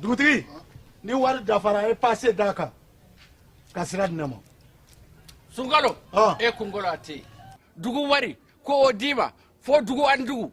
dugutigi ni wari dafara a ye pase d'a kan ka sira di ne ma sunkalo Ah. e kunkolo a tɛ yen dugu wari ko o d'i ma fo dugu ani dugu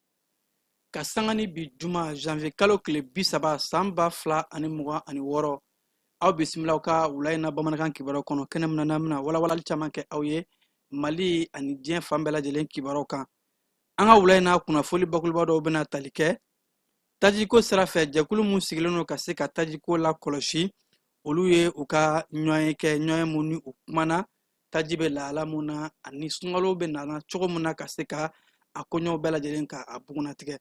ka sanga ni bi juma janvier kalo tile bi saba san ba fila ani mugan ani wɔɔrɔ aw bisimila aw ka wula in na bamanankan kibaruw kɔnɔ kɛnɛ min na n'an bɛna walawalali caman kɛ aw ye mali ani diɲɛ fan bɛɛ lajɛlen kibaruw kan an ka wula in na kunnafoli bakuruba dɔw bɛna tali kɛ tajiko sira fɛ jɛkulu min sigilen don ka se ka tajiko la kɔlɔsi olu ye u ka ɲɔgɔnye kɛ ɲɔgɔnye mun ni u kumana taji bɛ lahala mun na ani sunkalo bɛ nana cogo mun na ka se ka a koɲɛw bɛɛ lajɛlen ka a bugunnatigɛ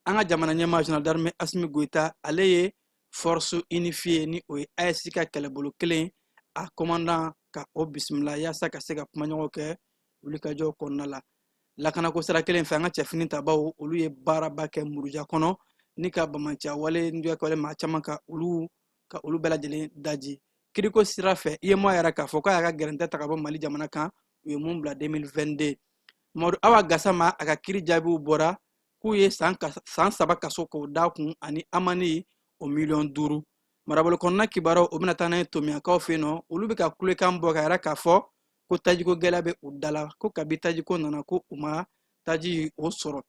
an ka jamana ɲɛmaa général d'armée asimi goyita ale ye force unifiée ni o ye aes ka kɛlɛbolo kelen a commandant ka o bisimila yaasa ka se ka kumaɲɔgɔn kɛ wulikajɔ kɔnɔna la lakanako sira kelen fɛ an ka cɛfini tabaw olu ye baaraba kɛ muruja kɔnɔ ni ka banbaanciya wale nujɛkɛwale maa caman ka olu ka olu bɛɛ lajɛlen daji kiriko sira fɛ uemoa y'a yira k'a fɔ k'a y'a ka gɛrɛntɛ ta ka bɔ mali jamana kan u ye mun bila 2022 mamadu awa gasama a ka kiri jaabiw bɔra k'u ye san saba kaso k'o da kun ani amani o miliyɔn duuru marabolo kɔnɔna kibaruw o bɛna taa n'a ye tomiɲankaw fɛ yen nɔ olu bɛ ka kulekan bɔ k'a yira k'a fɔ ko tajiko gɛlɛya bɛ u dala ko kabi tajiko nana ko u ma taji o sɔrɔ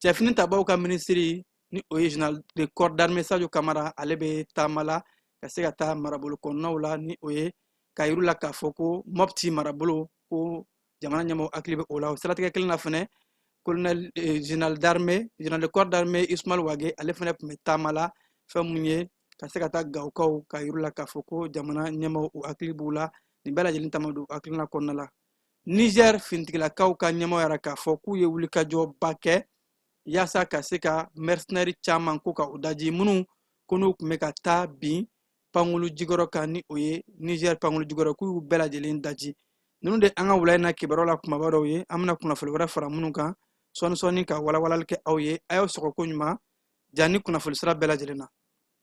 cɛfini tabaw ka minisiri ni o ye général de corps d'armée sadio kamara ale bɛ taama la ka se ka taa marabolo kɔnɔnaw la ni o ye k'a yira u la k'a fɔ ko mɔpti marabolo ko jamana ɲɛmɔgɔ hakili bɛ o la o siratigɛ kelen na fɛnɛ colonel eh, général d'armée général de corps d'armée ismail wage ale fɛnɛ tun bɛ taama la fɛn mun ye ka se ka taa gawokaw k'a yira u la k'a fɔ ko jamana ɲɛmɔgɔw hakili b'u la nin bɛɛ lajɛlen taama don hakilina kɔnɔna la niger finitigilakaw ka ɲɛmɔgɔ y'a yira k'a fɔ k'u ye wulikajɔba kɛ yaasa ka se ka mɛrisinɛri caman ko ka u daji minnu ko n'u tun bɛ ka taa bin pankulu jigiyɔrɔ kan ni o ye nizɛri pankulu jigiyɔrɔ k'u y'u bɛɛ lajɛlen daji ninnu de an ka wula in na kibaruw la kumaba dɔw ye an bɛna kunnafoni wɛrɛ fara minnu kan sɔɔni sɔɔni ka walawalali kɛ aw ye a y'aw sɔgɔ koɲuman ja ni kunnafoni sira bɛɛ lajɛlen na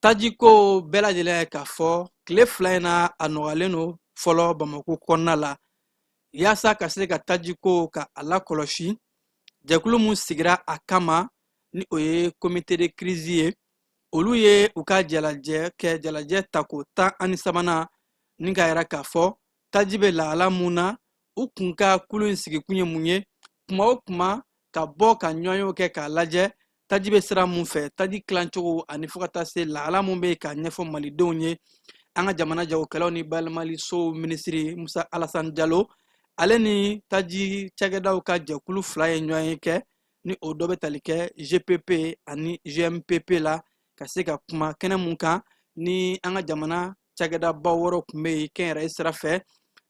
tajiko bɛɛ lajɛlen y'a ye k'a fɔ tile fila in na a nɔgɔyalen don fɔlɔ bamako kɔnɔna la yaasa ka se ka tajiko ka a lakɔlɔsi jɛkulu min sigira a kama ni o ye komite de kirizi ye olu ye u ka jalajɛ kɛ jalajɛ tako tan ani sabanan ni k'a yira k'a fɔ taji bɛ lahala mun na u kun ka kulu in sigikun ye mun ye kuma o kuma ka bɔ ka ɲɔgɔnyew kɛ k'a lajɛ taji bɛ sira mun fɛ taji tilacogo ani fo ka taa se lahala mun bɛ yen k'a ɲɛfɔ malidenw ye an ka jamana jagokɛlaw ni bayɛlɛmalisow minisiri musa alasan jalo ale ni taji cakɛdaw ka jɛkulu fila ye ɲɔgɔnye kɛ ni o dɔ bɛ tali kɛ gpp ani gmpp la ka se ka kuma kɛnɛ mun kan ni an ka jamana cakɛdabaw wɔɔrɔ tun bɛ yen kɛnyɛrɛye sira fɛ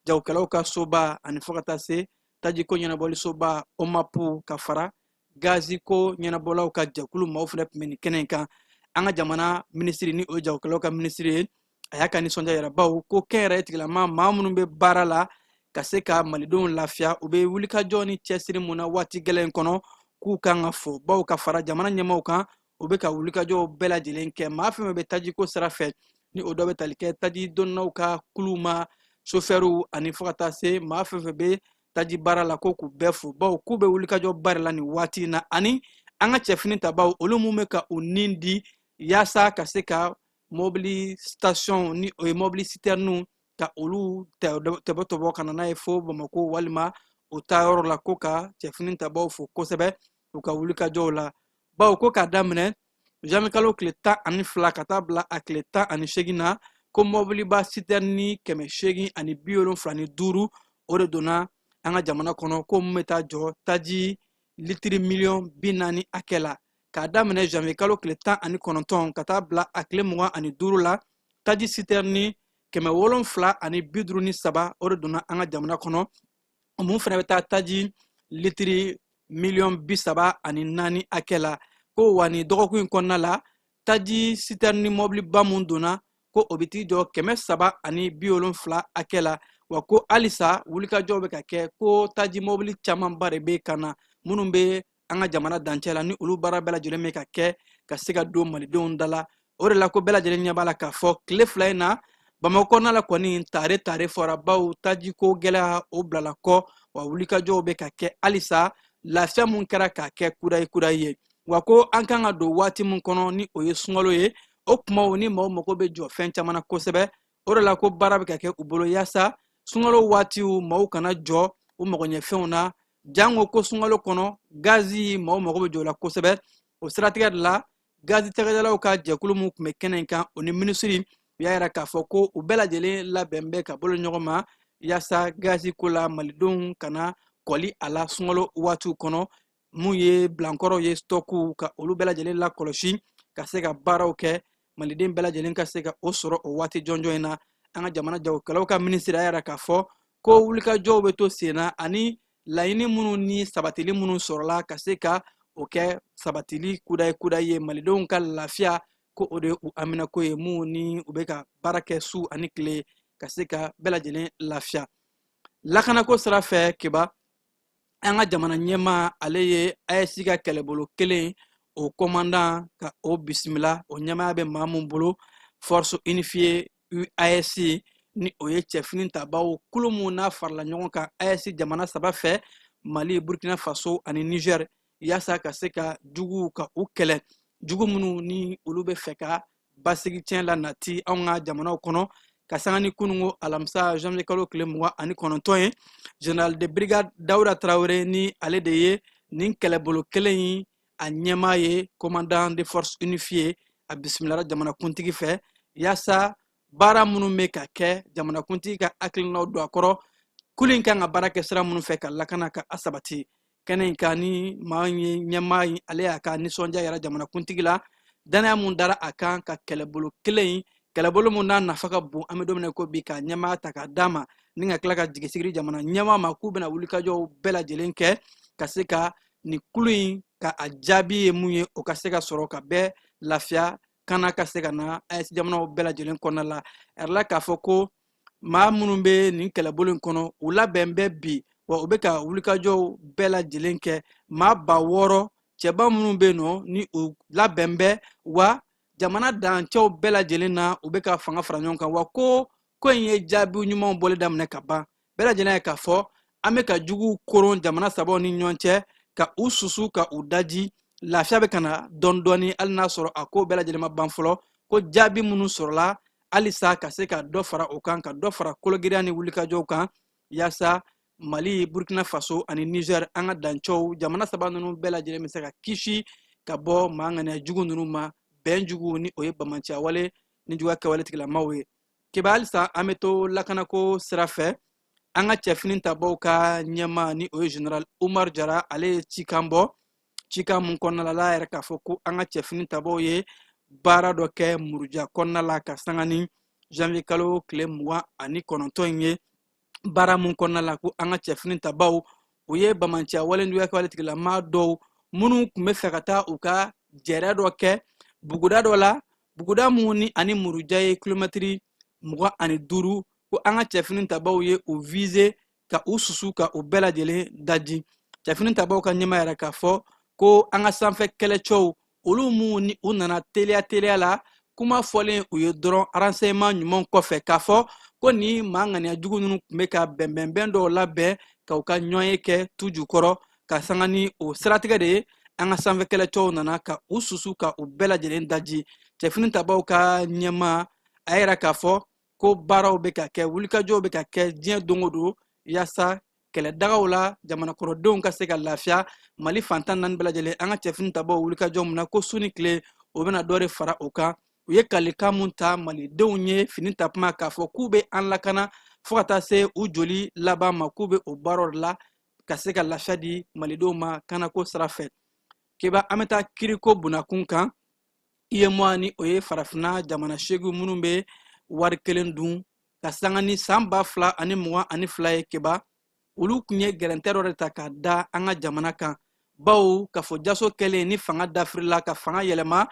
jagokɛlaw ka soba ani fo ka taa se tajiko ɲɛnabɔlisoba omapu ka fara gaziko ɲɛnabɔlaw ka jɛkulu maaw fɛnɛ tun bɛ nin kɛnɛ in kan an ka jamana minisiri ni o ye jagokɛlaw ka minisiri ye a y'a ka nisɔndiya yira baw ko kɛnyɛrɛye tigilama maa minnu bɛ baara la ka se ka malidenw lafiya u bɛ wulikajɔ ni cɛsiri mun na waati gɛlɛn kɔnɔ k'u kan ka fo baw ka fara jamana ɲɛmaaw kan u bɛ ka wulikajɔw bɛɛ lajɛlen kɛ maa fɛn fɛn bɛ tajiko sira fɛ ni o dɔ bɛ tali kɛ taji donnaw ka kuluw ma sofɛriw ani fo ka taa se maa fɛn fɛn bɛ taji baara la ko k'u bɛɛ fo baw k'u bɛ wulikajɔ baara la nin waati in na ani an ka cɛfini tabaw olu mun bɛ ka u ni di yaasa ka se ka mɔbili station ni o ye mɔbili sitɛriniw ka olu tɛbɔ tɔbɔ ka na n'a ye fo bamako walima o taayɔrɔ la ko ka cɛfini tabaw fo kosɛbɛ u ka wulikajɔw la bawo ko k'a daminɛ janvier kalo tile tan ani fila ka taa bila a tile tan ani seegin na ko mɔbiliba sitɛrini kɛmɛ seegin ani bi wolonfila ni duuru o de donna an ka jamana kɔnɔ ko mun bɛ taa jɔ taji litiri miliyɔn bi naani hakɛ la k'a daminɛ janvier kalo tile tan ani kɔnɔntɔn ka taa bila a tile mugan ani duuru la taji sitɛrini kɛmɛ wolonfila ani bi duuru ni saba o de donna an ka jamana kɔnɔ mun fana bɛ taa taji litiri miliyɔn bi saba ani naani hakɛ la ko wa nin dɔgɔkun in kɔnɔna la taji sitɛrini mɔbiliba mun donna ko o bɛ t'i jɔ kɛmɛ saba ani bi wolonfila hakɛ la wa ko halisa wulikajɔw bɛ ka kɛ ko taji mɔbili camanba de bɛ ka na minnu bɛ an ka jamana dancɛ la ni olu baara bɛɛ lajɛlen bɛ ka kɛ ka se ka don malidenw da la o de la ko bɛɛ lajɛlen ɲɛ b'a la k'a fɔ tile fila in na bamakɔ kɔnɔna la kɔni tare tare fɔra baw tajiko gɛlɛya o bilala kɔ wa wulikajɔw bɛ ka kɛ halisa lafiya mun kɛra k'a kɛ kudayi kudayi ye wa ko an kan ka don waati mun kɔnɔ ni o ye sunkalo ye o kumaw ni maaw mago bɛ jɔ fɛn caman na kosɛbɛ o de la ko baara bɛ ka kɛ u bolo yaasa sunkalo waatiw maaw kana jɔ u magoɲɛfɛnw na jango ko sunkalo kɔnɔ gazi maaw mago bɛ jɔ o la kosɛbɛ o siratigɛ de la gazi cakɛdalaw ka jɛkulu mun tun bɛ kɛnɛ in kan o ni minisiri u y'a yira k'a fɔ ko u bɛɛ lajɛlen labɛnnen bɛ ka bolo ɲɔgɔn ma yaasa gazi ko la malidenw kana kɔli a la sunkalo waatiw kɔnɔ mun ye bilankɔrɔw ye stɔkuw ka olu bɛɛ lajɛlen lakɔlɔsi ka se ka baaraw kɛ maliden bɛɛ lajɛlen ka se ka o sɔrɔ o waati jɔnjɔn in na an ka jamana jagokɛlaw ka minisiri y'a yira k'a fɔ ko wulikajɔw bɛ to sen na ani laɲini minnu ni sabatili minnu sɔrɔla ka se ka o kɛ sabatili kudayi kudayi ye malidenw ka lafiya ko o de ye u haminanko ye mun ni u bɛ ka baara kɛ su ani tile ka se ka bɛɛ lajɛlen lafiya lakanako sira fɛ keba an ka jamana ɲɛmaa ale ye aes ka kɛlɛbolo kelen o kɔmandan ka o bisimila o ɲɛmaya bɛ maa min bolo force unifiée aes ni o ye cɛ finitabaw kulu mun n'a farala ɲɔgɔn kan aes jamana saba fɛ mali burkina faso ani niger yaasa ka se ka juguw ka u kɛlɛ jugu minnu ni olu bɛ fɛ ka basigi tiɲɛ la nati anw ka jamanaw kɔnɔ ka sanga ni kununko alamisa janvier kalo tile mugan ani kɔnɔntɔn ye général de brigade dawuda tarawele ni ale de ye nin kɛlɛbolo kelen in a ɲɛmaa ye commandant de force unifiée a bisimilara jamanakuntigi fɛ yaasa baara minnu bɛ ka kɛ jamanakuntigi ka hakilinaw don a kɔrɔ kulu in kan ka baara kɛ sira minnu fɛ ka lakana ka a sabati kɛnɛ in kan ni maa ye ɲɛmaa in ale y'a ka nisɔndiya yira jamanakuntigi la dannaya mun dara a kan ka kɛlɛbolo kelen in kɛlɛbolo mun n'a nafa ka bon an bɛ don min na ko bi ka ɲɛmaa ta k'a d'a ma ni ka tila ka jigisigi di jamana ɲɛmaa ma k'u bɛna wulikajɔw bɛɛ lajɛlen kɛ ka se ka nin kulu in ka a jaabi ye mun ye o ka se ka sɔrɔ ka bɛɛ lafiya kana ka se ka na aes jamanaw bɛɛ lajɛlen kɔnɔna la a yirala k'a fɔ ko maa minnu bɛ nin kɛlɛbolo in kɔnɔ u labɛn bɛ bi wa u bɛ ka wulikajɔw bɛɛ lajɛlen kɛ maa ba wɔɔrɔ cɛba minnu bɛ yen nɔ ni u labɛn bɛ wa jamana dancɛw bɛɛ lajɛlen na u bɛ ka fanga fara ɲɔgɔn kan wa ko ko in ye jaabi ɲumanw bɔli daminɛ ka ban bɛɛ lajɛlen y'a ye k'a fɔ an bɛ ka juguw koron jamana sabaw ni ɲɔgɔn cɛ ka u susu ka u daji lafiya bɛ ka na dɔɔni dɔɔni hali n'a sɔrɔ a ko bɛɛ lajɛlen ma ban fɔlɔ ko jaabi minnu sɔrɔla halisa ka se ka dɔ fara o kan ka dɔ fara kologirinya ni wulikajɔw kan yaasa mali burkina faso ani niger an ka dancɛw jamana saba ninnu bɛɛ lajɛlen bɛ se ka kisi ka bɔ maa ŋaniya jugu ninnu ma bɛn jugu ni o ye banbaanciya wale ni juguya kɛwale tigilamaw ye keba halisa an bɛ to lakanako sira fɛ an ka cɛ finitabaw ka ɲɛmaa ni o ye général umar jara ale ye cikan bɔ cikan mun kɔnɔna la ale y'a yira k'a fɔ ko an ka cɛ finitabaw ye baara dɔ kɛ muruja kɔnɔna la ka sanga ni janvier kalo tile mugan ani kɔnɔntɔn in ye baara mun kɔnɔna la ko an ka cɛ finitabaw u ye banbaanciya wale ni juguya kɛwale tigilama dɔw minnu tun bɛ fɛ ka taa u ka jɛrɛ dɔ kɛ buguda dɔ la buguda mun ni ani muruja ye kilomɛtiri mugan ani duuru ko an ka cɛfini tabaw ye u vize ka u susu ka u bɛɛ lajɛlen daji cɛfini tabaw ka ɲɛmaa y'a yira k'a fɔ ko an ka sanfɛ kɛlɛcɛw olu minnu ni u nana teliya teliya la kuma fɔlen u ye dɔrɔn renseignement ɲuman kɔfɛ k'a fɔ ko nin maa ŋaniya jugu ninnu tun bɛ ka bɛnbɛnbɛn dɔw labɛn ka u ka ɲɔgɔnye kɛ tu jukɔrɔ ka sanga ni o siratigɛ de ye an ka sanfɛ kɛlɛcɛw nana ka u susu ka u bɛɛ lajɛlen daji cɛfini tabaw ka ɲɛmaa y'a yira k'a fɔ ko baaraw bɛ ka kɛ wulikajɔw bɛ ka kɛ diɲɛ don o don yaasa kɛlɛdagaw la jamana kɔnɔdenw ka se ka lafiya mali fan tan ni naani bɛɛ lajɛlen an ka cɛfini tabaw wulikajɔ mun na ko su ni tile o bɛna dɔ de fara o kan u ye kalikan mun ta malidenw ye fini ta tuma k'a fɔ k'u bɛ an lakana fo ka taa se u joli laban ma k'u bɛ o baaraw la ka se ka lafiya di malidenw ma kanako sira fɛ keba an bɛ taa kiriko bunakun kan UEMOA ni o ye farafinna jamana seegin minnu bɛ wari kelen dun ka sanga ni san ba fila ani mugan ani fila ye keba olu tun ye gɛrɛntɛ dɔ de ta ka da an ka jamana kan bawo k'a fɔ jaso kɛlen ni fanga dafirila ka fanga yɛlɛma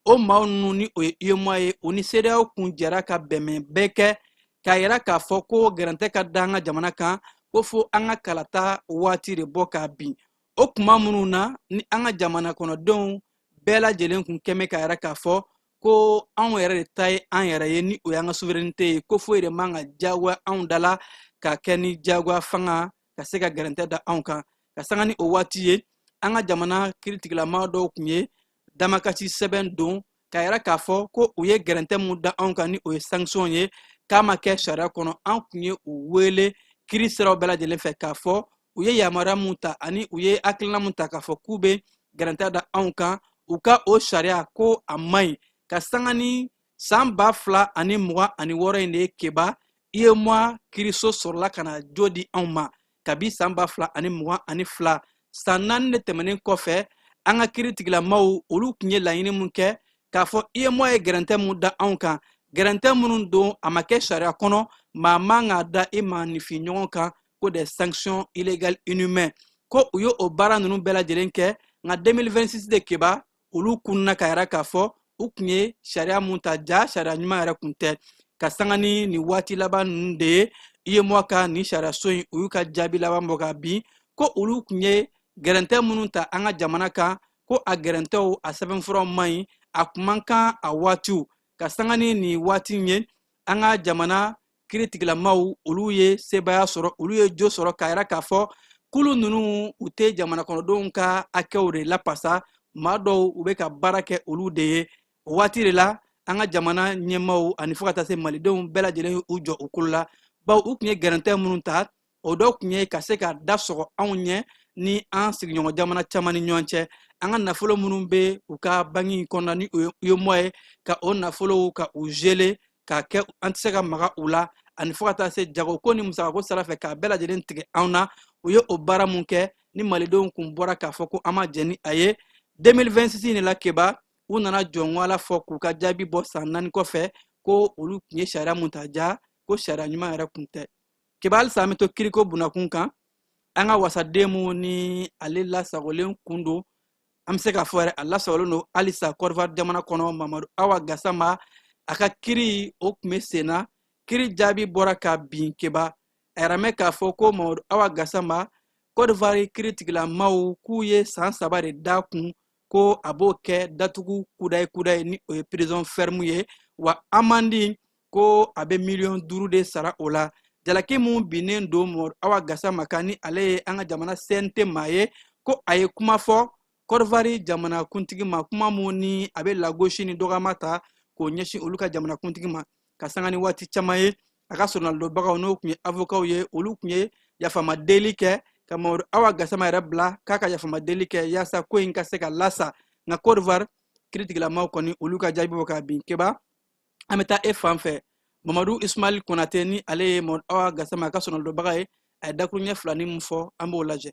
o maaw ninnu ni o ye UEMOA ye o ni CEDEAO kun jɛra ka bɛnbɛn bɛɛ kɛ k'a yira k'a fɔ ko gɛrɛntɛ ka da an ka jamana kan ko fo an ka kalata waati de bɔ k'a bin o kuma minnu na ni an ka jamana kɔnɔdenw bɛɛ lajɛlen kun kɛmɛ k'a yira k'a fɔ ko anw yɛrɛ de ta ye an yɛrɛ ye ni o y'an ka souveraineté ye ko foyi de man ka diyagoya anw da la ka kɛ ni diyagoya fanga ka se ka gɛrɛntɛ da anw kan ka sanga ni o waati ye an ka jamana kiritigilama dɔw kun ye damakasi sɛbɛn don k'a yira k'a fɔ ko u ye gɛrɛntɛ mun da anw kan ni o ye sanction ye k'a ma kɛ sariya kɔnɔ an kun ye u wele kiri siraw bɛɛ lajɛlen fɛ k'a fɔ u ye yamaruya mun ta ani u ye hakilina mun ta k'a fɔ k'u bɛ gɛrɛntɛ da anw kan u ka o sariya ko a man ɲi ka sanga ni san ba fila ani mugan ani wɔɔrɔ in de ye keba UEMOA kiriso sɔrɔla ka na jo di anw ma kabi san ba fila ani mugan ani fila san naani de tɛmɛnen kɔfɛ an ka kiritigilamaw olu tun ye laɲini mun kɛ k'a fɔ UEMOA ye gɛrɛntɛ mun da anw kan gɛrɛntɛ minnu don a ma kɛ sariya kɔnɔ maa man ka da i maanifin ɲɔgɔn kan ko des sanctions illégales inhumaines ko u ye o baara ninnu bɛɛ lajɛlen kɛ nka 2026 de keba olu kunna k'a yira k'a fɔ u kun ye sariya mun ta jaa sariya ɲuman yɛrɛ kun tɛ ka sanga ni nin waati laban ninnu de ye UEMOA ka nin sariyaso in u y'u ka jaabi laban bɔ k'a bin ko olu kun ye gɛrɛntɛ minnu ta an ka jamana kan ko a gɛrɛntɛw a sɛbɛnfuraw man ɲi a kun man kan a waatiw ka sanga ni nin waati ye an ka jamana kiritigilamaw olu ye sebaaya sɔrɔ olu ye jo sɔrɔ k'a yira k'a fɔ kulu ninnu u tɛ jamanakɔnɔdenw ka hakɛw de lapasa maa dɔw u bɛ ka baara kɛ olu de ye o waati de la an ka jamana ɲɛmaaw ani fo ka taa se malidenw bɛɛ lajɛlen u jɔ u kolo la bawo u tun ye gɛrɛntɛ minnu ta o dɔ tun ye ka se ka da sɔgɔ anw ɲɛ ni an sigiɲɔgɔn jamana caman ni ɲɔgɔn cɛ an ka nafolo minnu bɛ u ka banki kɔnɔna ni uemoa ye ka o nafolow ka u geler k'a kɛ an tɛ se ka maga u la ani fo ka taa se jagoko ni musakako sira fɛ k'a bɛɛ lajɛlen tigɛ anw na u ye o baara mun kɛ ni malidenw kun bɔra k'a fɔ ko an ma jɛn ni a ye 2026 in de la keba u nana jɔnwala fɔ k'u ka jaabi bɔ san naani kɔfɛ ko olu tun ye sariya mun ta jaa ko sariya ɲuman yɛrɛ kun tɛ keba halisa an bɛ to kiriko bunakun kan an ka wasaden mun ni ale lasagolen kun don an bɛ se k'a fɔ yɛrɛ a lasagolen don halisa cote d'ivoire jamana kɔnɔ mamadu awa gasama a ka kiri o tun bɛ sen na kiri jaabi bɔra ka bin keba a yɛrɛ mɛn k'a fɔ ko mamadu awa gasama cote d'ivoire kiritigilamaw k'u ye san saba de da kun ko a b'o kɛ datugu kudayi kudayi ni o ye prison ferme ye wa amandi ko a bɛ miliyɔn duuru de sara o la jalaki mun binnen don mamadu awa gasama kan ni ale ye an ka jamana cnt maa ye ko a ye kuma fɔ cote d'ivoire jamanakuntigi ma kuma mun ni a bɛ lagosi ni dɔgɔma ta k'o ɲɛsin olu ka jamanakuntigi ma ka sanga ni waati caman ye a ka soronalidonbagaw n'o tun ye avokaw ye olu tun ye yafama deli kɛ ka mamadu awa gasama yɛrɛ bila k'a ka yafama deli kɛ yaasa ko in ka se ka lasa nka cote d'ivoire kiritigilamaw kɔni olu ka jaabi bɔ ka bin keba an bɛ taa e fan fɛ mamadu ismail konate ni ale ye mamadu awa gasama ka soronalidonbaga ye a ye dakuruɲɛ filanin min fɔ an b'o lajɛ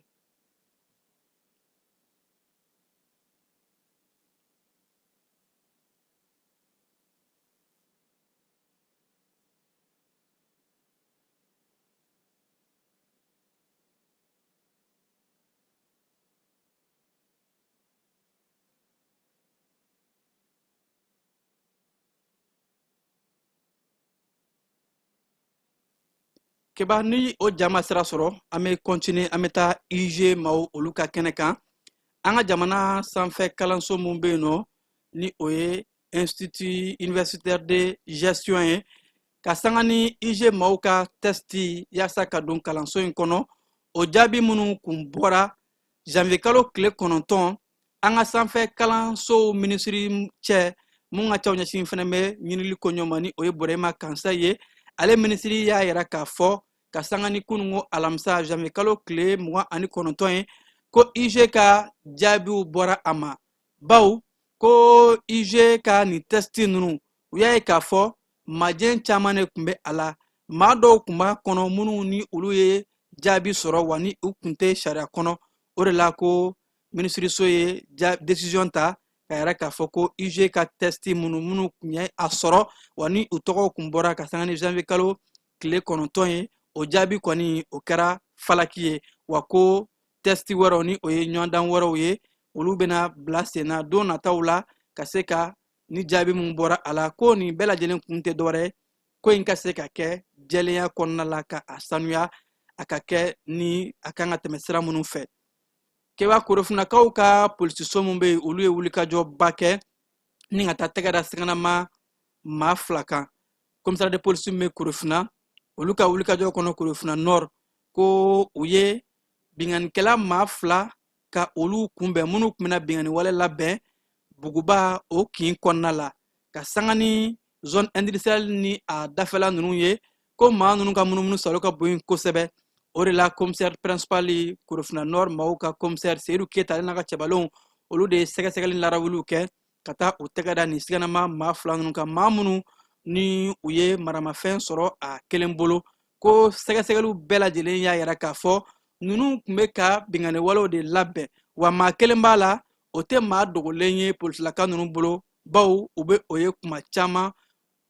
keba ni o ja ma sira sɔrɔ an bɛ continuer an bɛ taa iug maaw olu ka kɛnɛ kan an ka jamana sanfɛ kalanso min bɛ yen nɔ ni o ye institut universitaire de gestion ye ka sanga ni iug maaw ka tɛsti yaasa ka don kalanso in kɔnɔ o jaabi minnu kun bɔra janvier kalo tile kɔnɔntɔn an ka sanfɛ kalansow minisiri cɛ mun ka caw ɲɛsin fɛnɛ bɛ ɲinili koɲɛ ma ni o ye burema kansaye ye ale minisiri y'a yira k'a fɔ ka sanga ni kununko alamisa janvier kalo tile mugan ani kɔnɔntɔn ye ko iug ka jaabiw bɔra a ma bawo ko iug ka nin tɛsiti ninnu u y'a ye k'a fɔ majɛn caman de tun bɛ a la maa dɔw tun b'a kɔnɔ minnu ni olu ye jaabi sɔrɔ wa ni u tun tɛ sariya kɔnɔ o de la ko minisiriso ye desiziyɔn ta k'a yira k'a fɔ ko iug ka tɛsiti minnu minnu tun ye a sɔrɔ wa ni u tɔgɔw tun bɔra ka sanga ni janvier kalo tile kɔnɔntɔn ye o jaabi kɔni o kɛra falaki ye wa ko tɛsti wɛrɛw ni o ye ɲɔgɔndan wɛrɛw ye olu bɛna bila senna don nataw la ka se ka ni jaabi min bɔra a la ko nin bɛɛ lajɛlen kun tɛ dɔwɛrɛ ye ko in ka se ka kɛ jɛlenya kɔnɔna la ka a sanuya a ka kɛ ni a kan ka tɛmɛ sira minnu fɛ keba korofinakaw ka polisiso min bɛ yen olu ye wulikajɔba kɛ ni ka taa tɛgɛ da siganama maa fila kan commissariat de police min bɛ korofina olu ka wulikajɔ kɔnɔ korofina nord ko u ye binkanikɛla maa fila ka olu kunbɛn minnu tun bɛna binkanni wale labɛn buguba o kin kɔnɔna la ka sanga ni zone industrielle ni a dafɛla ninnu ye ko maa ninnu ka munumunu salo ka bon kosɛbɛ o de la commissaire principal korofina nord maaw ka commissaire seyidu keyita ale n'a ka cɛbalenw olu de ye sɛgɛsɛgɛli larawuliw kɛ ka taa u tɛgɛ da nin siganama maa fila ninnu kan maa minnu ni u ye maramafɛn sɔrɔ a kelen bolo ko sɛgɛsɛgɛliw bɛɛ lajɛlen y'a yira k'a fɔ ninnu tun bɛ ka binganiwalew de labɛn wa maa kelen b'a la o tɛ maa dogolen ye polisilaka ninnu bolo baw u bɛ o ye kuma caman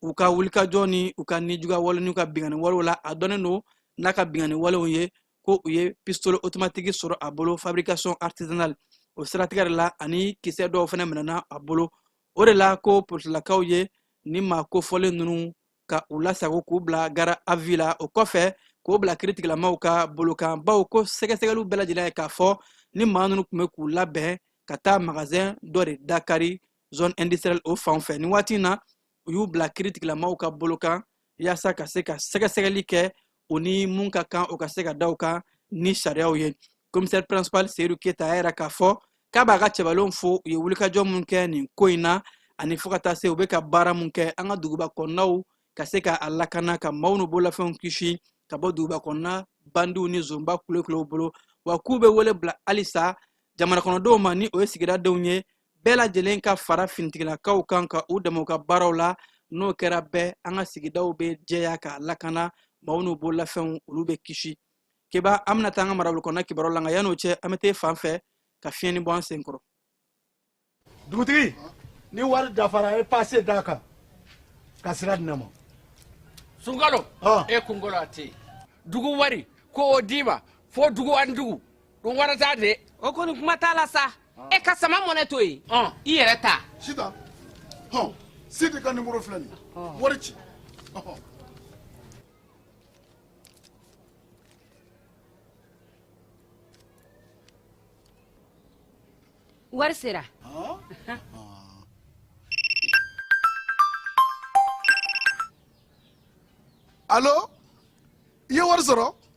u ka wulikajɔ ni u ka nijuguya wale n'u ka binganiwalew la a dɔnnen don n'a ka binganiwalew ye ko u ye pistole otomatigi sɔrɔ a bolo fabrication artisanale o siratigɛ de la ani kisɛ dɔw fana minɛna a bolo o de la ko polisilakaw ye ni maa kofɔlen ninnu ka u lasago k'u bila garde à vue la o kɔfɛ k'o bila kiritigilamaw ka bolo kan baw ko sɛgɛsɛgɛliw bɛɛ lajɛlen y'a ye k'a fɔ ni maa ninnu tun bɛ k'u labɛn ka taa magazɛn dɔ de dakari zone industrielle o fan fɛ nin waati in na u y'u bila kiritigilamaw ka bolo kan yaasa ka se ka sɛgɛsɛgɛli kɛ u ni mun ka kan o ka se ka da u kan ni sariyaw ye commissaire principal seyidu keyita y'a yira k'a fɔ k'a b'a ka cɛbalenw fo u ye wulikajɔ mun kɛ nin ko in na ani fo ka taa se u bɛ ka baara mun kɛ an ka duguba kɔnɔnaw ka se ka a lakana ka maaw n'u bololafɛnw kisi ka bɔ duguba kɔnɔna bandiw ni zonba kulekulew bolo wa k'u bɛ wele bila halisa jamanakɔnɔdenw ma ni o ye sigida denw ye bɛɛ lajɛlen ka fara finitigilakaw kan ka u dɛmɛ u ka baaraw la n'o kɛra bɛɛ an ka sigidaw bɛ jɛya ka lakana maaw n'u bololafɛnw olu bɛ kisi keba an bɛna taa an ka marabolo kɔnɔna kibaruyaw la nka yan'o cɛ an bɛ taa fan fɛ ka fiɲɛni bɔ an sen kɔrɔ dugutigi ni wari dafara a ye paase d'a kan ka sira di ne ma sunkalo e kunkolo a tɛ yen dugu wari ko o d'i ma fo dugu ani dugu don wɛrɛ t'a de. o kɔni kuma t'a la sa. Ah. e ka sama money to yen. ɔn i yɛrɛ ta. sitan hɔn sidi ka nimoro filɛ nin ye ah. wari ci. wari sera. Ah. alo i ye wari sɔrɔ.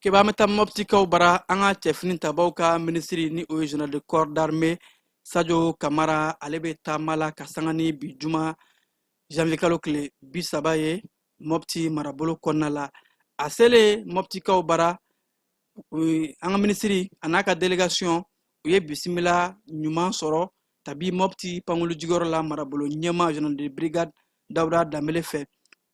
keba an bɛ taa mɔptikaw bara an ka cɛfini tabaw ka minisiri ni o ye general de corps d'armée sajo kamara ale bɛ taama la ka sanga ni bi juma janvier kalo tile bi saba ye mɔpti marabolo kɔnɔna la a selen mɔptikaw bara an ka minisiri a n'a ka delegation u ye bisimila ɲuman sɔrɔ kabi mɔpti pankolojigiyɔrɔ la marabolo ɲɛma general de brigade dawuda danbele fɛ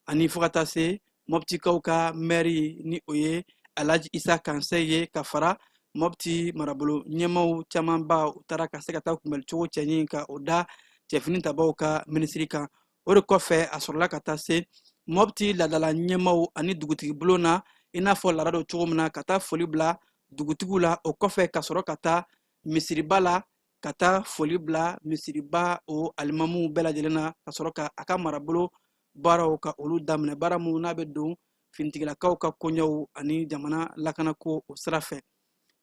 ani fo ka taa se mɔptikaw ka mɛri ni o ye alaji isa kansɛ ye ka fara mɔpti marabolo ɲɛmaw camanba u taara ka se ka taa kunbɛli cogo cɛɲi ka o da cɛfini tabaw ka minisiri kan o de kɔfɛ a sɔrɔla ka taa se mɔpti laadala ɲɛmaw ani dugutigi bulon na i n'a fɔ laada don cogo min na ka taa foli bila dugutigiw la o kɔfɛ ka sɔrɔ ka taa misiriba la ka taa foli bila misiriba o alimamuw bɛɛ lajɛlen na ka sɔrɔ ka a ka marabolo baaraw ka olu daminɛ baara minnu n'a bɛ don finitigilakaw ka koɲɛw ani jamana lakanako o sira fɛ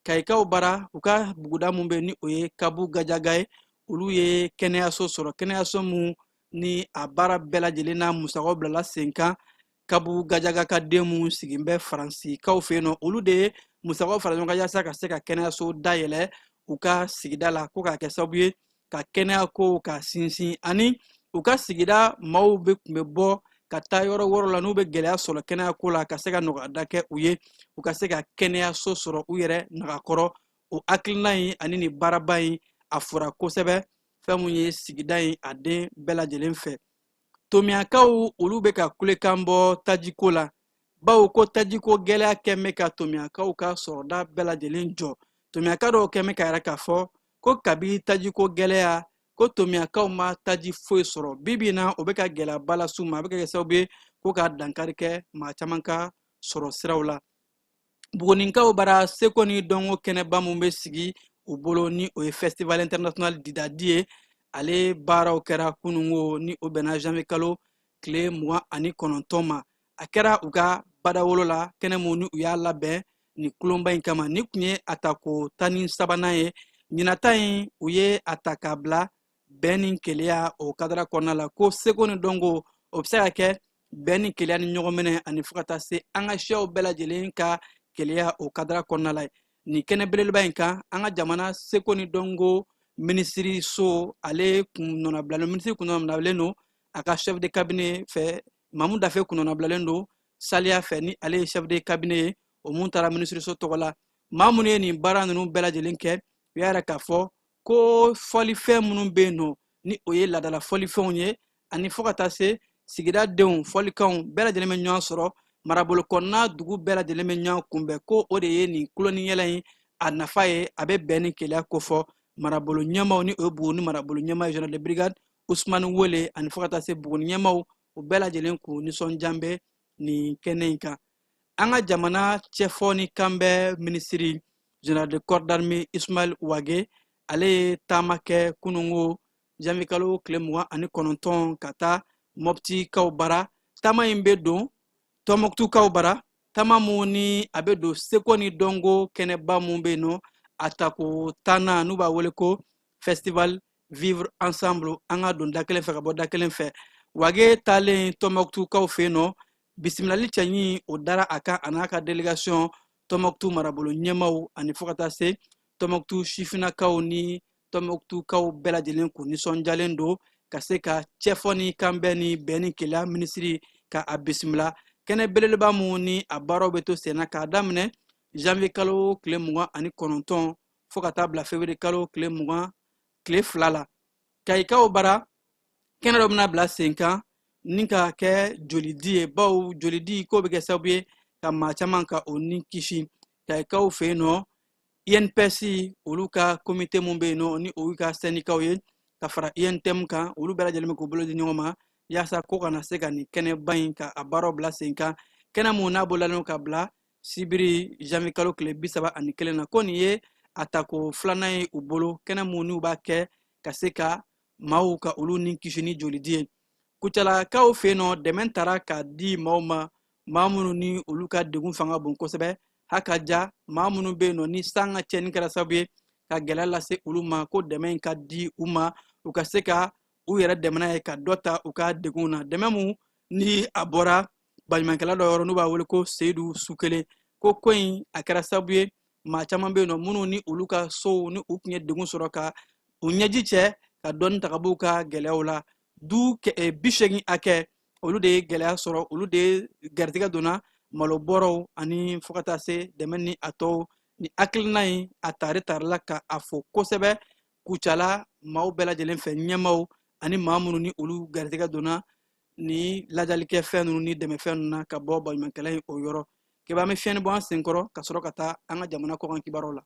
kayikaw bara u ka buguda min bɛ ni o ye kabu gajaga ye olu ye kɛnɛyaso sɔrɔ kɛnɛyaso min ni a baara bɛɛ lajɛlen n'a musakaw bilala sen kan kabu gajaga ka den minnu sigin bɛ faransikaw fɛ yen nɔ olu de ye musakaw fara ɲɔgɔn kan yasa ka se ka kɛnɛyaso dayɛlɛ u ka sigida la ko k'a kɛ sababu ye ka kɛnɛya kow ka sinsin ani u ka sigida maaw bɛɛ tun bɛ bɔ ka taa yɔrɔ wɛrɛw la n'u bɛ gɛlɛya sɔrɔ kɛnɛya ko la ka se ka nɔgɔyada kɛ u ye u ka se ka kɛnɛyaso sɔrɔ u yɛrɛ nagakɔrɔ o hakilina in ani nin baaraba in a fora kosɛbɛ fɛn min ye sigida in a den bɛɛ lajɛlen fɛ tomiyakaw olu bɛ ka kulekan bɔ tajiko la bawo ko tajiko gɛlɛya kɛn bɛ ka tomiyakaw ka sɔrɔda bɛɛ lajɛlen jɔ tomiyaka dɔw kɛn bɛ k'a yira k'a fɔ ko kabi tajiko gɛlɛya ko tomiyakaw ma taji foyi sɔrɔ bi bi in na o bɛ ka gɛlɛyaba las'u ma a bɛ ka kɛ sababu ye ko ka dankari kɛ maa caman ka sɔrɔ siraw la Buguninkaw bara seko ni dɔnko kɛnɛba min bɛ sigi u bolo ni o ye festival international didadi ye ale baaraw kɛra kunungo ni o bɛnna janvier kalo tile mugan ani kɔnɔntɔn ma a kɛra u ka badawolo la kɛnɛ mun ni u y'a labɛn nin kulonba in kama nin tun ye a tako tan ni sabanan ye ɲinata in u ye a ta k'a bila bɛn ni keleya o kadara kɔnɔna la ko seko ni dɔnko o bɛ se ka kɛ bɛn ni keleya ni ɲɔgɔn minɛ ani fo ka taa se an ka siyaw bɛɛ lajɛlen ka keleya o kadara kɔnɔna la nin kɛnɛ belebeleba in kan an ka jamana seko ni dɔnko minisiriso ale kun nɔnabilalen minisiri kun nɔnabilalen don a ka chef de cabinet fɛ mamu dafe kun nɔnabilalen don saliya fɛ ni ale ye chef de cabinet ye o mun taara minisiriso tɔgɔ la maa minnu ye nin baara ninnu bɛɛ lajɛlen kɛ u y'a yira k'a fɔ ko fɔlifɛn minnu bɛ yen nɔ ni o ye laadala fɔlifɛnw ye ani fo ka taa se sigida denw fɔlikanw bɛɛ lajɛlen bɛ ɲɔgɔn sɔrɔ marabolo kɔnɔna dugu bɛɛ lajɛlen bɛ ɲɔgɔn kunbɛn ko o de ye nin kuloniyɛlɛ in a nafa ye a bɛ bɛn ni keleya kofɔ marabolo ɲɛmaw ni o ye buguni marabolo ɲɛma general de brigade usumani wele ani fo ka taa se buguni ɲɛmaw u bɛɛ lajɛlen kun nisɔndiyalen bɛ nin kɛnɛ in kan an ka jamana cɛfɔ ni kanbɛn minisiri general de corps d'armée ismail wage ale ye taama kɛ kunungo janvier kalo tile mugan ani kɔnɔntɔn ka taa mɔptikaw bara taama in bɛ don tɔmɔkutukaw bara taama mun ni a bɛ don seko ni dɔnko kɛnɛba mun bɛ yen nɔ a tako tannan n'u b'a wele ko festival vivre ensemble an ka don da kelen fɛ ka bɔ da kelen fɛ wage taalen tɔmɔkutukaw fɛ yen nɔ bisimilali cɛɲi o dara a kan a n'a ka delegation tɔmɔkutu marabolo ɲɛmaw ani fo ka taa se tɔmɔkutu sifinakaw ni tɔmɔkutukaw bɛɛ lajɛlen kun nisɔndiyalen don ka se ka cɛfɔ ni kanbɛn ni bɛn ni keleya minisiri ka a bisimila kɛnɛ belebeleba mun ni a baaraw bɛ to senna k'a daminɛ janvier kalo tile mugan ani kɔnɔntɔn fo ka taa bila fevrier kalo tile mugan tile fila la kayikaw bara kɛnɛ dɔ bɛna bila sen kan ni ka kɛ jolidi ye bawo jolidi ko bɛ kɛ sababu ye ka maa caman ka o ni kisi kayikaw fɛ yen nɔ inps olu ka komite mun bɛ yen nɔ ni olu ka sɛndikaw ye ka fara untm kan olu bɛɛ lajɛlen bɛ k'u bolo di ɲɔgɔn ma yaasa k'u ka na se ka nin kɛnɛba in ka a baaraw bila sen kan kɛnɛ mun n'a bololalen ka bila sibiri janvier kalo tile bi saba ani kelen na ko nin ye a tako filanan ye u bolo kɛnɛ mun n'u b'a kɛ ka se ka maaw ka olu ni kisi ni jolidi ye kucalakaw fɛ yen nɔ dɛmɛ tara ka di maaw ma maa minnu ni olu ka degun fanga bon kosɛbɛ ha ka ja maa minnu bɛ yen nɔ ni san ka tiɲɛni kɛra sababu ye ka gɛlɛya lase olu ma ko dɛmɛ in ka di u ma u ka se ka u yɛrɛ dɛmɛ n'a ye ka dɔ ta u ka degun na dɛmɛ mun ni a bɔra baɲumankɛla dɔ yɔrɔ n'u b'a wele ko seyidu sukele ko ko in a kɛra sabu ye maa caman bɛ yen nɔ minnu ni olu ka sow ni u tun ye degun sɔrɔ ka u ɲɛji cɛ ka dɔɔni ta ka b'u ka gɛlɛyaw la du eh, bi seegin hakɛ olu de ye gɛlɛya sɔrɔ olu de ye garijɛgɛ donna malo bɔrɔw ani fo ka taa se dɛmɛ ni a tɔw ni hakilina in a tari tarila ka a fɔ kosɛbɛ kucala maaw bɛɛ lajɛlen fɛ ɲɛmaw ani maa minnu ni olu garijɛgɛ donna ni lajalikɛ fɛn ninnu ni dɛmɛfɛn ninnu na ka bɔ baɲumankɛla in o yɔrɔ kɛba an bɛ fiɲɛni bɔ an senkɔrɔ ka sɔrɔ ka taa an ka jamana kɔkan kibaruw la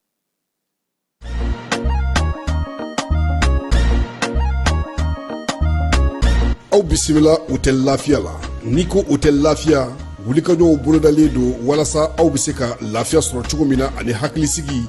aw bisimila hôtel lafiya la n'i ko hôtel lafiya wulikajɔw bolodalen don walasa aw bɛ se ka lafiya sɔrɔ cogo min na ani hakilisigi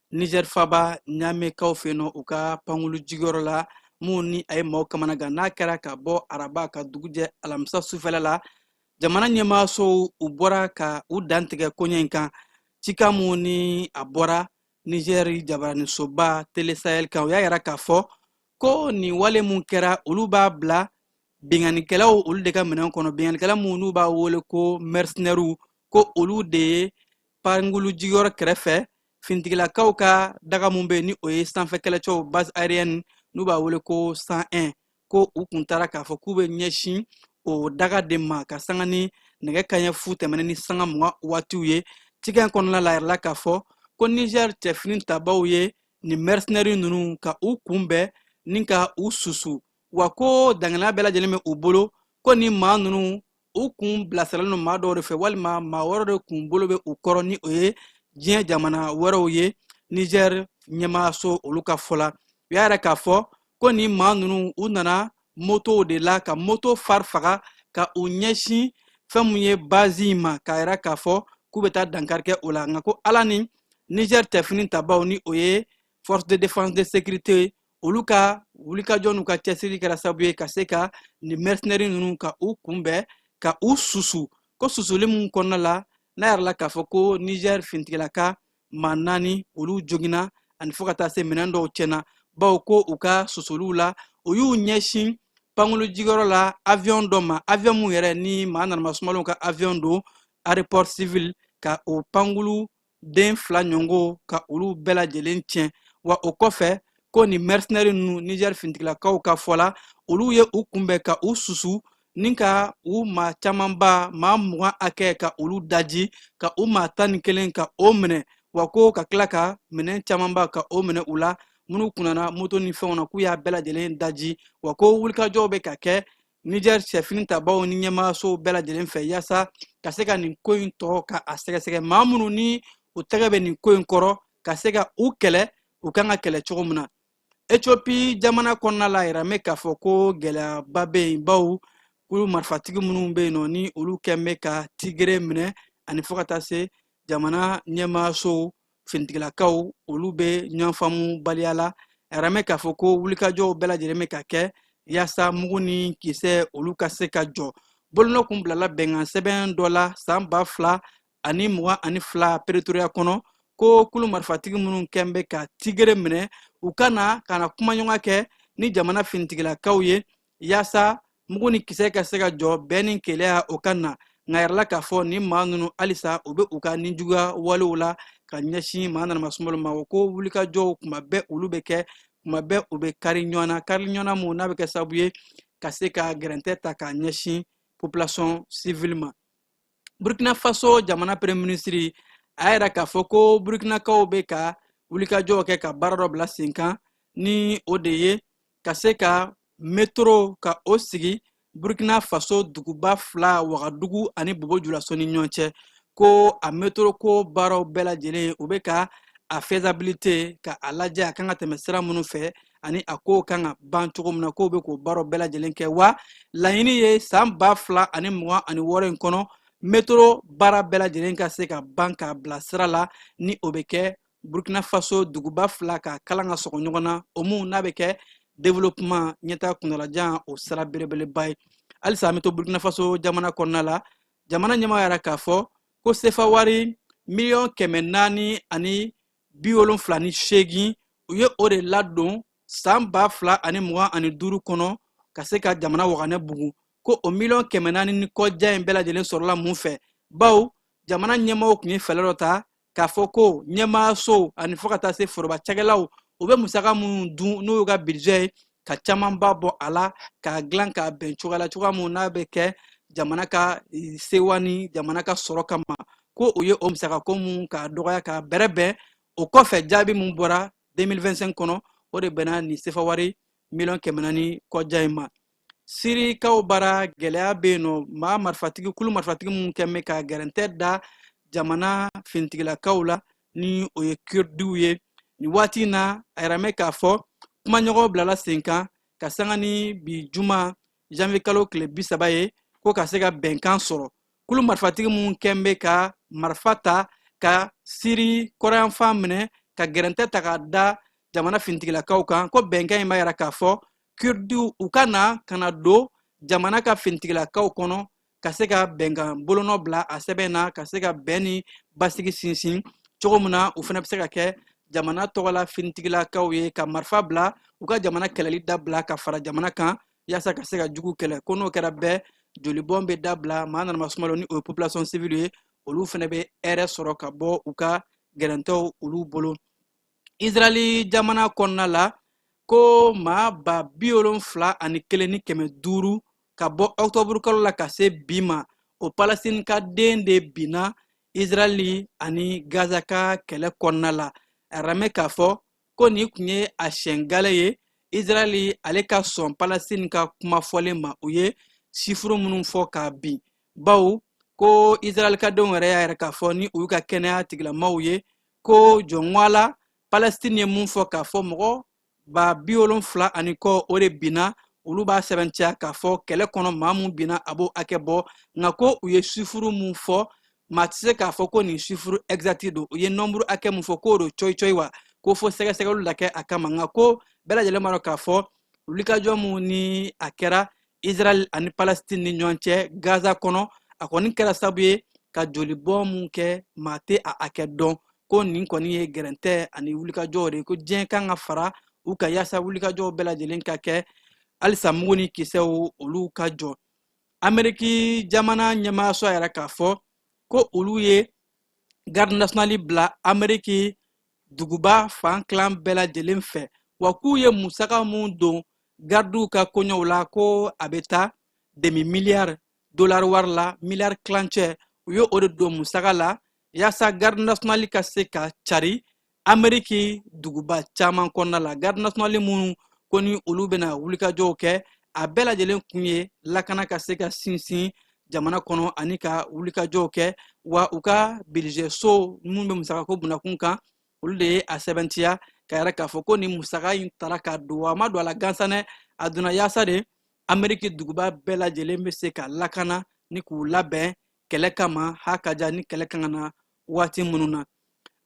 niger faba ɲamekaw fɛ nɔ u ka pankulu jigiyɔrɔ la mun ni a ye maaw kamanagan n'a kɛra ka bɔ araba ka dugujɛ alamisa sufɛla la jamana ɲɛmaasow u bɔra ka u dantigɛ koɲɛ in kan cika mun ni a bɔra niger jabaranisoba télé sahel kan u y'a yira k'a fɔ ko nin wale min kɛra olu b'a bila binkanikɛlaw olu de ka minɛn kɔnɔ binkanikɛla minnu n'u b'a wele ko mercenaires ko olu de ye pankulu jigiyɔrɔ kɛrɛfɛ fintigilakaw ka daga mun bɛ ni o ye sanfɛ kɛlɛcɛw base aérienne n'u b'a wele ko 101 ko u kun taara k'a fɔ k'u bɛ ɲɛsin o daga de ma ka sanga ni nɛgɛ kaɲɛ fu tɛmɛnen ni sanga mugan waatiw ye cikan kɔnɔna la yirala k'a fɔ ko niger cɛ finitabaw ye nin mercenaires ninnu ka u kunbɛn ni ka u susu wa ko daŋaniya bɛɛ lajɛlen bɛ u bolo ko nin maa ninnu u kun bilasiralen don maa dɔw de fɛ walima maa wɛrɛw de kun bolo bɛ u kɔrɔ ni o ye diɲɛ jamana wɛrɛw ye niger ɲɛmaaso olu ka fɔ la u y'a yira k'a fɔ ko nin maa ninnu u nana motow de la ka moto phare faga ka u ɲɛsin fɛn min ye base in ma k'a yira k'a fɔ k'u bɛ taa dankari kɛ o la nka ko ala ni niger cɛ finitabaw ni o ye force de défense de sécurité olu ka wulikajɔ n'u ka cɛsiri kɛra sabu ye ka se ka nin mercenaires ninnu ka u kunbɛn ka u susu ko susuli min kɔnɔna la n'a yirala k'a fɔ ko niger fintigilaka maa naani olu joginna ani fo ka taa se minɛn dɔw tiɲɛna bawo ko u ka susuliw la u y'u ɲɛsin pankulu jigiyɔrɔ la avion dɔ ma avion min yɛrɛ ni maa nanama sumalenw ka avion don aéroport civil ka o pankulu den fila ɲɔgɔn ka olu bɛɛ lajɛlen tiɲɛ wa o kɔfɛ ko nin mercenaires ninnu niger finitigilakaw ka fɔ la olu ye u kunbɛn ka u susu ni ka u maa camanba maa mugan hakɛ ka olu daji ka u maa tan ni kelen ka o minɛ wa ko ka tila ka minɛn camanba ka o minɛ u la minnu kun nana moto ni fɛnw na k'u y'a bɛɛ lajɛlen daji wa ko wulikajɔw bɛ ka kɛ Niger cɛfini tabaw ni ɲɛmaayasow bɛɛ lajɛlen fɛ yaasa ka se ka nin ko in tɔ ka a sɛgɛsɛgɛ maa minnu ni u tɛgɛ bɛ nin ko in kɔrɔ ka se ka u kɛlɛ u kan ka kɛlɛ cogo min na ethiopie jamana kɔnɔna la a yiralen bɛ k'a fɔ ko gɛlɛyaba bɛ yen baw kulu marifatigi minnu bɛ yen nɔ ni olu kɛn bɛ ka tigere minɛ ani fo ka taa se jamana ɲɛmaayasow finitigilakaw olu bɛ ɲɔgɔn faamu baliya la a yiralen bɛ k'a fɔ ko wulikajɔw bɛɛ lajɛlen bɛ ka kɛ yaasa mugu ni kisɛ olu ka se ka jɔ bolonɔ kun bilala bɛnkan sɛbɛn dɔ la san ba fila ani mugan ani fila peretoriya kɔnɔ ko kulu marifatigi minnu kɛn bɛ ka tigere minɛ u ka na ka na kumaɲɔgɔnya kɛ ni jamana finitigilakaw ye yaasa mugu ni kisɛ ka se ka jɔ bɛn ni kelenya o ka na nka a yirala k'a fɔ nin maa ninnu halisa u bɛ u ka ninjuguya walew la ka ɲɛsin maa nanama sumalo ma o ko wulikajɔw kuma bɛɛ olu bɛ kɛ kuma bɛɛ u bɛ kari ɲɔgɔn na kari ɲɔgɔn na mun n'a bɛ kɛ sababu ye ka se ka gɛrɛntɛ ta k'a ɲɛsin population civile ma burkina faso jamana premier ministre a y'a yira k'a fɔ ko burkinakaw bɛ ka wulikajɔw kɛ ka baara dɔ bila sen kan ni o de ye ka se ka metro ka o sigi burkina faso duguba fila wagadugu ani bobo julaso ni ɲɔgɔn cɛ ko a metro ko baaraw bɛɛ lajɛlen u bɛ ka a faisabilité ka a lajɛ a kan ka tɛmɛ sira minnu fɛ ani a kow kan ka ban cogo min na k'o bɛ k'o baaraw bɛɛ lajɛlen kɛ wa laɲini ye san ba fila ani mugan ani wɔɔrɔ in kɔnɔ metro baara bɛɛ lajɛlen ka se ka ban k'a bila sira la ni o bɛ kɛ burkina faso duguba fila ka kalan ka sɔgɔ ɲɔgɔn na o mun n'a bɛ kɛ développement ɲɛtaa kuntalajan o sira belebeleba ye halisa an bɛ to burkina faso jamana kɔnɔna la jamana ɲɛmaa y'a yira k'a fɔ ko sefa wari miliyɔn kɛmɛ naani ani bi wolonfila ni seegin u ye o de ladon san ba fila ani mugan ani duuru kɔnɔ ka se ka jamana waganɛ bugu ko o miliyɔn kɛmɛ naani ni kɔjan in bɛɛ lajɛlen sɔrɔla mun fɛ baw jamana ɲɛmaaw tun ye fɛɛrɛ dɔ ta k'a fɔ ko ɲɛmaayasow ani fo ka taa se foroba cakɛlaw u bɛ musaka minnu dun n'o y'u ka budget ye ka camanba bɔ a la k'a dilan k'a bɛn cogoya la cogoya min n'a bɛ kɛ jamana ka e, sewa ni jamana ka sɔrɔ kama ko u ye o musakako mun k'a dɔgɔya k'a bɛrɛbɛn o kɔfɛ jaabi min bɔra 2025 kɔnɔ o de bɛnna nin sefawari miliyɔn kɛmɛ naani kɔja in ma sirikaw bara gɛlɛya bɛ yen nɔ maa marifatigi kulu marifatigi minnu kɛn bɛ ka gɛrɛntɛ da jamana finitigilakaw la ni o ye kurdiw ye nin waati in na a yiralen bɛ k'a fɔ kumaɲɔgɔn bilala senkan ka sanga ni bi juma janvier kalo tile bi saba ye ko ka se ka bɛnkan sɔrɔ kulu marifatigi minnu tun bɛ ka marifa ta ka siri kɔrɔnyanfan minɛ ka gɛrɛntɛ ta k'a da jamana finitigilakaw kan ko bɛnkan in b'a yira k'a fɔ kurdiw u ka na ka na don jamana ka finitigilakaw kɔnɔ ka se ka bɛnkan bolonɔ bila a sɛbɛn na ka se ka bɛn ni basigi sinsin cogo min na u fana bɛ se ka kɛ jamana tɔgɔla finitigilakaw ye ka marifa bila u ka jamana kɛlɛli dabila ka fara jamana kan yaasa ka se ka jugu kɛlɛ ko n'o kɛra bɛɛ jolibɔn bɛ dabila maa nanama sumalo ni o ye population civile ye olu fana bɛ hɛrɛ sɔrɔ ka bɔ u ka gɛrɛntɛw olu bolo israɛli jamana kɔnɔna la ko maa ba bi wolonfila ani kelen ni kɛmɛ duuru ka bɔ ɔkutɔburukalo la ka se bi ma o palestine ka den de binna israɛli ani gaza ka kɛlɛ kɔnɔna la a ramɛ k'a fɔ ko nin tun ye a siɲɛ gale ye israɛli ale ka sɔn palestine ka kuma fɔlen ma u ye sifuru minnu fɔ k'a bin bawo ko israɛlkadenw yɛrɛ y'a yira k'a fɔ ni o y'u ka kɛnɛya tigilamaw ye ko jɔnwala palestine ye mun fɔ k'a fɔ mɔgɔ ba bi wolonfila ani kɔ o de binna olu b'a sɛbɛntiya k'a fɔ kɛlɛ kɔnɔ maa mun binna a b'o hakɛ bɔ nka ko u ye sifuru mun fɔ maa tɛ se k'a fɔ ko nin sifuru ɛgizati don u ye nɔnburu hakɛ mun fɔ k'o don cɔyicɔyi wa ko fo sɛgɛsɛgɛliw la kɛ a kama nka ko bɛɛ lajɛlen b'a dɔn k'a fɔ wulikajɔ mun ni a kɛra israɛl ani palestine ni ɲɔgɔn cɛ gaza kɔnɔ a kɔni kɛra sabu ye ka jolibɔ mun kɛ maa tɛ a hakɛ dɔn ko nin kɔni ye gɛrɛntɛ ani wulikajɔw de ye ko diɲɛ kan ka fara u kan yaasa wulikajɔw bɛɛ lajɛlen ka kɛ halisa mugu ni kisɛw olu ka jɔ ameriki jamana ɲɛmaayaso y'a yira k'a fɔ ko olu ye garde nationale bila ameriki duguba fan tilan bɛɛ lajɛlen fɛ wa k'u ye musaka mun don gardiw ka koɲɛw la ko a bɛ taa demi miliyari dolari wari la miliyari tilancɛ u ye o de don musaka la yaasa garde nationale ka se ka cari ameriki duguba caman kɔnɔna la garde nationale minnu ko ni olu bɛna wulikajɔw kɛ a bɛɛ lajɛlen kun ye lakana ka se ka sinsin jamana kɔnɔ ani ka wulikajɔw kɛ wa u ka budget so minnu bɛ musakako bunakun kan olu de ye a sɛbɛntiya k'a yira k'a fɔ ko nin musaka in tara ka don a ma don a la gansanɛ a donna yaasa de ameriki duguba bɛɛ lajɛlen bɛ se ka lakana ni k'u labɛn kɛlɛ kama ha ka ja ni kɛlɛ ka na waati minnu na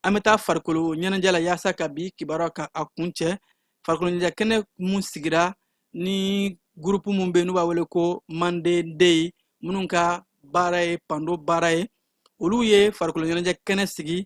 an bɛ taa farikolo ɲɛnajɛ la yaasa ka bi kibaruya ka a kuncɛ farikolo ɲɛnajɛ kɛnɛ mun sigira ni gurupu mun bɛ yen n'u b'a wele ko manden dey minnu ka baara ye pando baara ye olu ye farikolo ɲɛnajɛ kɛnɛ sigi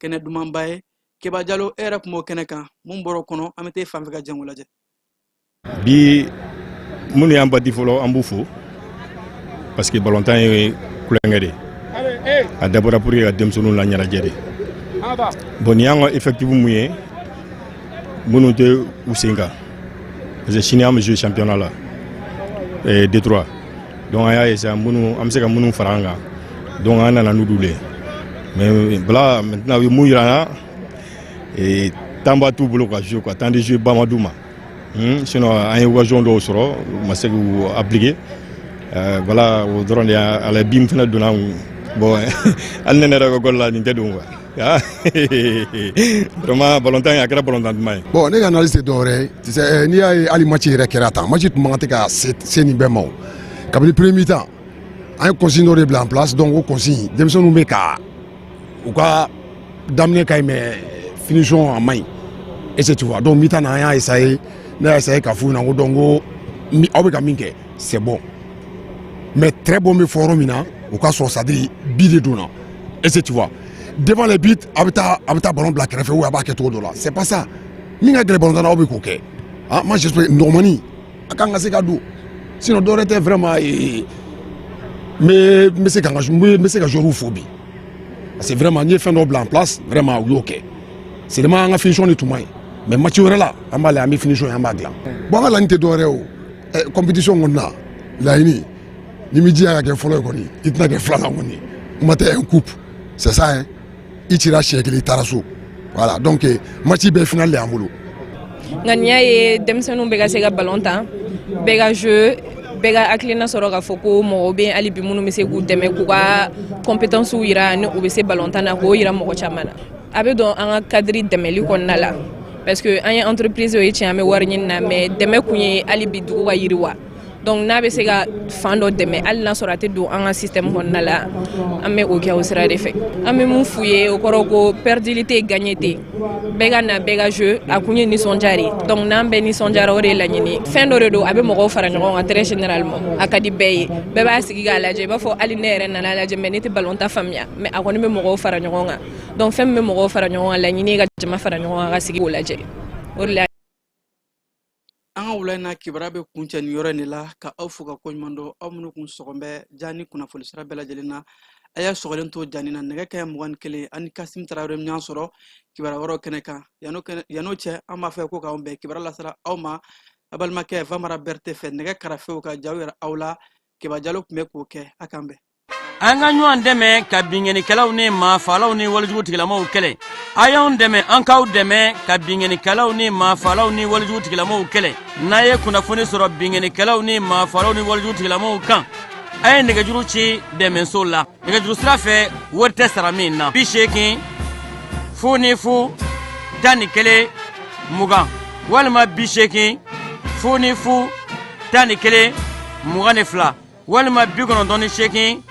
kɛnɛ dumanba ye keba jalo e yɛrɛ tun b'o kɛnɛ kan mun bɔr'o kɔnɔ an bɛ taa e fan fɛ ka jɛ k'o lajɛ bi minnu y'an bati fɔlɔ an b'u fo parce que balontan ye tulonkɛ de a dabɔra pour que ka denmisɛnninw la ɲɛnajɛ de bon nin y'an ka effectif mun ye minnu tɛ u sen kan parce que sini an bɛ jouer championnat la eh, Detroit donc an y'a ye sisan minnu an bɛ se ka minnu fara an kan donc an nana n'olu le mais voilà maintenant u ye mun yira an na temps ba t'u bolo ka jouer quoi temps de jeu ba ma d'u ma hmm, sinon an ye occasion dɔw sɔrɔ u ma se k'u appliquer euh, voilà o dɔrɔn de y'a la bi min fana donna an bon hali ne ne yɛrɛ ka gɔli la nin tɛ don quoi ah, vraiment balontan a kɛra balontan duman ye bon ne ka analyse tɛ dɔwɛrɛ ye tu sais eh, n'i y'a ye hali match yɛrɛ kɛra tan match tun man kan tɛ ka se nin bɛɛ ma o kabini premier mi-temps an ye consigne dɔ de bila en place donc o consigne denmisɛnninw bɛ ka u ka daminɛ ka ɲi mais finition a man ɲi est-ce que tu vois donc mi-temps na an y'a essayer ne y'a essayer k'a f'u ɲɛna ko donc ko aw bɛ ka min kɛ c'est bon mais très bon bɛ fɔ yɔrɔ min na o k'a sɔrɔ c'est-à-dire bi de donna est-ce que tu vois devant les buts a bɛ taa a bɛ taa ballon bila kɛrɛfɛ ou a b'a kɛ cogo dɔ la c'est pas ça min ka gɛlɛn ballon tan na aw bɛ k'o kɛ ah moi j'espère nɔgɔman in a kan ka se ka don sinon dɔwɛrɛ tɛ vraiment ee n bɛ n bɛ se ka n ka n bɛ n bɛ se ka joueurs fo bi parce que vraiment n ye fɛn dɔ bila en place vraiment u y'o kɛ seulement an ka finition de tun man ɲi mais match wɛrɛ la an b'a lajɛ an bɛ finition ye an b'a dilan bon an ka laɲini tɛ dɔwɛrɛ ye o compétition kɔni na laɲini n'i m'i jija ka kɛ fɔlɔ ye kɔni i tɛna kɛ filanan kɔni kuma tɛ un coupe c'est ça hein. i cira siɲɛ kelen i taara so voilà donc eh, match bɛɛ final de y'an bolo ŋaniya ye denmisɛnninw bɛɛ ka se ka balon tan bɛɛ ka jeu bɛɛ ka hakilina sɔrɔ k'a fɔ ko mɔgɔw bɛ hali bi minnu bɛ se k'u dɛmɛ k'u ka compétences jira ni u bɛ se balon tan na k'o jira mɔgɔ caman na a bɛ don an ka cadre dɛmɛli kɔnɔna la parce que an ye entreprise o ye tiɲɛ an bɛ wariɲini na mais dɛmɛ kun ye hali bi dugu ka yiriwa donc n'a bɛ se ka fan dɔ dɛmɛ hali n'a sɔrɔ a tɛ don an ka système kɔnɔna la an bɛ o kɛ o sira de fɛ an bɛ mun f'u ye o kɔrɔ ko pɛridili tɛ gaɲe tɛ bɛɛ ka na bɛɛ ka jeu a kun ye nisɔndiya de ye donc n'an bɛɛ nisɔndiyara o de ye laɲini fɛn dɔ de don a bɛ mɔgɔw fara ɲɔgɔn kan très généralement a ka di bɛɛ ye bɛɛ b'a sigi k'a lajɛ i b'a fɔ hali ne yɛrɛ nana lajɛ mais ne tɛ ballon tan faamuya mais a kɔni bɛ mɔgɔw fara ɲɔgɔn kan donc fɛn min bɛ mɔgɔw fara ɲɔgɔn kan laɲini ye ka jama fara ɲɔgɔn kan ka sigi k'o lajɛ o de la an ka wula in na kibaruya bɛ kuncɛ nin yɔrɔ in de la ka aw fo ka koɲuman dɔn aw minnu tun sɔgɔlen bɛ ja ni kunnafoni sira bɛɛ lajɛlen na a y'a sɔgɔlen to janni na nɛgɛ kaɲɛ mugan ni kelen aw ni kasim tarawele bɛ ɲɔgɔn sɔrɔ kibaruya wɛrɛw kɛnɛ kan yan'o cɛ an b'a fɔ ko k'an bɛn kibaruya lasera aw ma aw balimakɛ famara berete fɛ nɛgɛ karafew ka jaw yira aw la keba jalo tun bɛ k'o kɛ a k'an bɛn an ka ɲɔgɔn dɛmɛ ka binkannikɛlaw ni maafalaw ni walijugu tigilamaw kɛlɛ a y'anw dɛmɛ an k'aw dɛmɛ ka binkannikɛlaw ni maafalaw ni walijugu tigilamaw kɛlɛ n'a ye kunnafoni sɔrɔ binkannikɛlaw ni maafalaw ni walijugu tigilamaw kan a ye nɛgɛjuru ci dɛmɛso la nɛgɛjuru sira fɛ wari tɛ sara min na bi seegin fu ni fu tan ni kelen mugan walima bi seegin fu ni fu tan ni kelen mugan ni fila walima bi kɔnɔntɔn ni seegin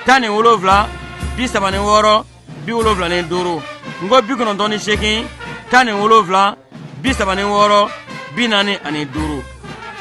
tan ni wolonfila bi saba ni wɔɔrɔ bi wolonfila ni duuru n ko bi kɔnɔntɔn ni seegin tan ni wolonfila bi saba ni wɔɔrɔ bi naani ani duuru